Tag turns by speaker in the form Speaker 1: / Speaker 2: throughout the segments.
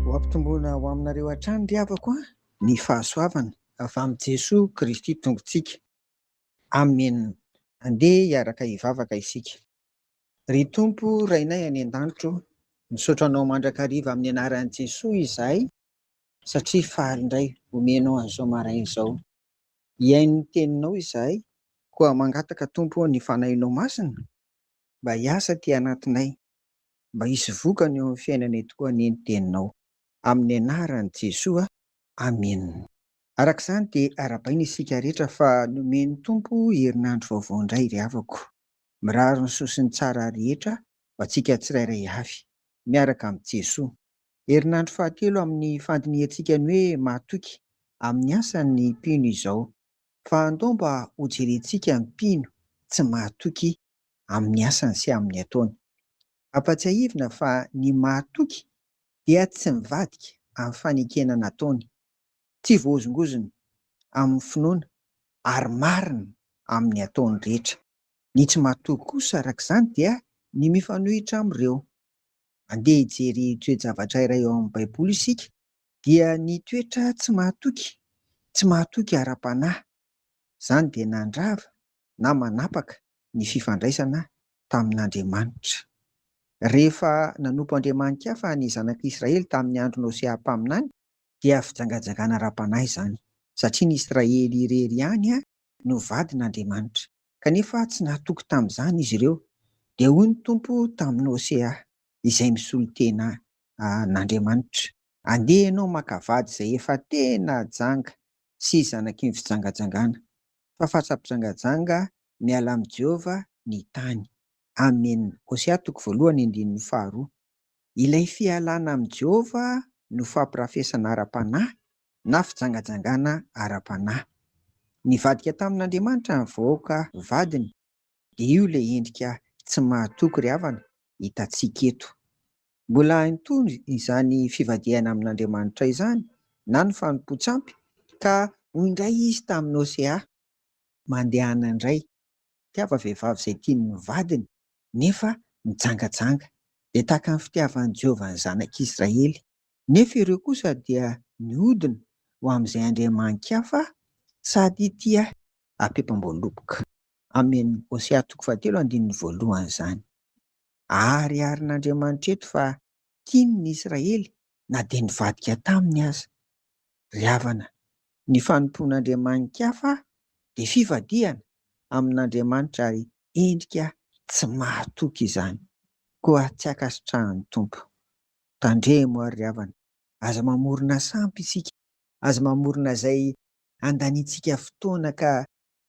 Speaker 1: Ho ampitomboina ho aminareo hatrany ry havako an, ny fahasoavana avy amin'i Jesoa Kristy Tompontsika. Amen! Andeha hiaraka hivavaka isika. Ry Tompo Rainay any an-danitra o, misaotra Anao mandrakariva amin'ny anaran'i Jesoa izahay satria faly indray omenao an'izao maraina izao. Hihaino ny teninao izahay, koa mangataka, Tompo ô, ny Fanahinao Masina mba hiasa aty anatinay, mba hisy vokany eo amin'ny fiainanay tokoa anie ny teninao. Amin'ny anaran'i Jesoa, amena. Araka izany dia arahabaina isika rehetra fa nomen'ny Tompo herinandro vaovao indray ry havako. Mirary ny soa sy ny tsara rehetra ho antsika tsirairay avy, miaraka amin'i Jesoa. Herinandro fahatelo amin'ny fandinihantsika ny hoe mahatoky amin'ny asany ny mpino izao. Fa andao mba hojerentsika ny mpino tsy mahatoky amin'ny asany sy amin'ny ataony. Ampatsiahivina fa ny mahatoky dia tsy mivadika amin'ny fanekena nataony, tsy voahozongozona amin'ny finoana ary marina amin'ny ataony rehetra. Ny tsy mahatoky kosa araka izany dia ny mifanohitra amin'ireo. Andeha hijery toe-javatra iray ao amin'ny Baiboly isika, dia ny toetra tsy mahatoky, tsy mahatoky ara-panahy. Izany dia nandrava na manapaka ny fifandraisana tamin'Andriamanitra. Rehefa nanompo andriamani-kafa ny zanak'i Israely tamin'ny andron'i Hosea mpaminany, dia fijangajangana ara-panahy izany satria ny Israely irery ihany no vadin'Andriamanitra kanefa tsy nahatoky tamin'izany izy ireo, dia hoy ny Tompo tamin'i Hosea, izay misolo tena an'Andriamanitra, Andeha ianao maka vady izay efa tena janga sy zanaky ny fijangajangana, fa fatsa-pijangajanga, miala amin'i Jehovah ny tany. Amena. Hosea toko voalohany andininy faharoa. Ilay fialana amin'i Jehovah no fampirafesana ara-panahy na fijangajangana ara-panahy. Nivadika tamin'Andriamanitra ny vahoaka vadiny, dia io ilay endrika tsy mahatoky ry havana hitantsika eto. Mbola hainy toa izany fivadihana amin'Andriamanitra izany na ny fanompoan-tsampy, ka hoy indray izy tamin'i Hosea, Mandehana indray, tiava vehivavy izay tian'ny vadiny, nefa nijangajanga. Dia tahaka ny fitiavan'i Jehovah ny zanak'i Israely. Nefa ireo kosa dia nihodina ho amin'izay andriamani-kafa sady tia hapeompam-boaloboka. Amin' Hosea toko fahatelo andininy voalohany izany. Ahariharin'Andriamanitra eto fa tiany ny Israely, na dia nivadika taminy aza. Ry havana, ny fanompoan'andriamani-kafa dia fivadihana amin'Andriamanitra ary endrika tsy mahatoky izany. Koa tsy ankasitrahan'ny Tompo. Tandremo àry ry havana, aza mamorona sampy isika, aza mamorona izay handaniantsika fotoana ka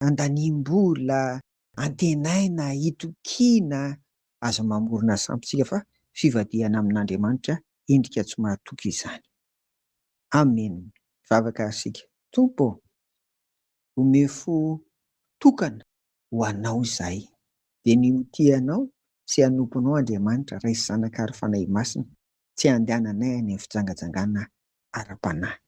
Speaker 1: handaniam-bola antenaina, itokiana, aza mamorona sampitsika fa fivadihana amin'Andriamanitra endrika tsy mahatoky izany. Amen! Mivavaka ary isika, Tompo ô! Omeo fo tokana ho Anao izahay, dia ny ho tia Anao sy hanompo Anao Andriamanitra, Ray sy Zanaka ary Fanahy Masina, tsy handehananay any amin'ny fijangajangana ara-panahy.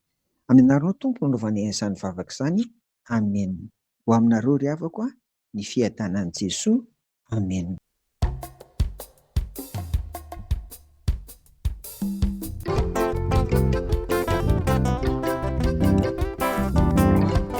Speaker 1: Aminareo no Tompo no anovana izany vavaka izany. Amen. Ho aminareo ry havako a, ny fiadanan'i Jesoa. Amen.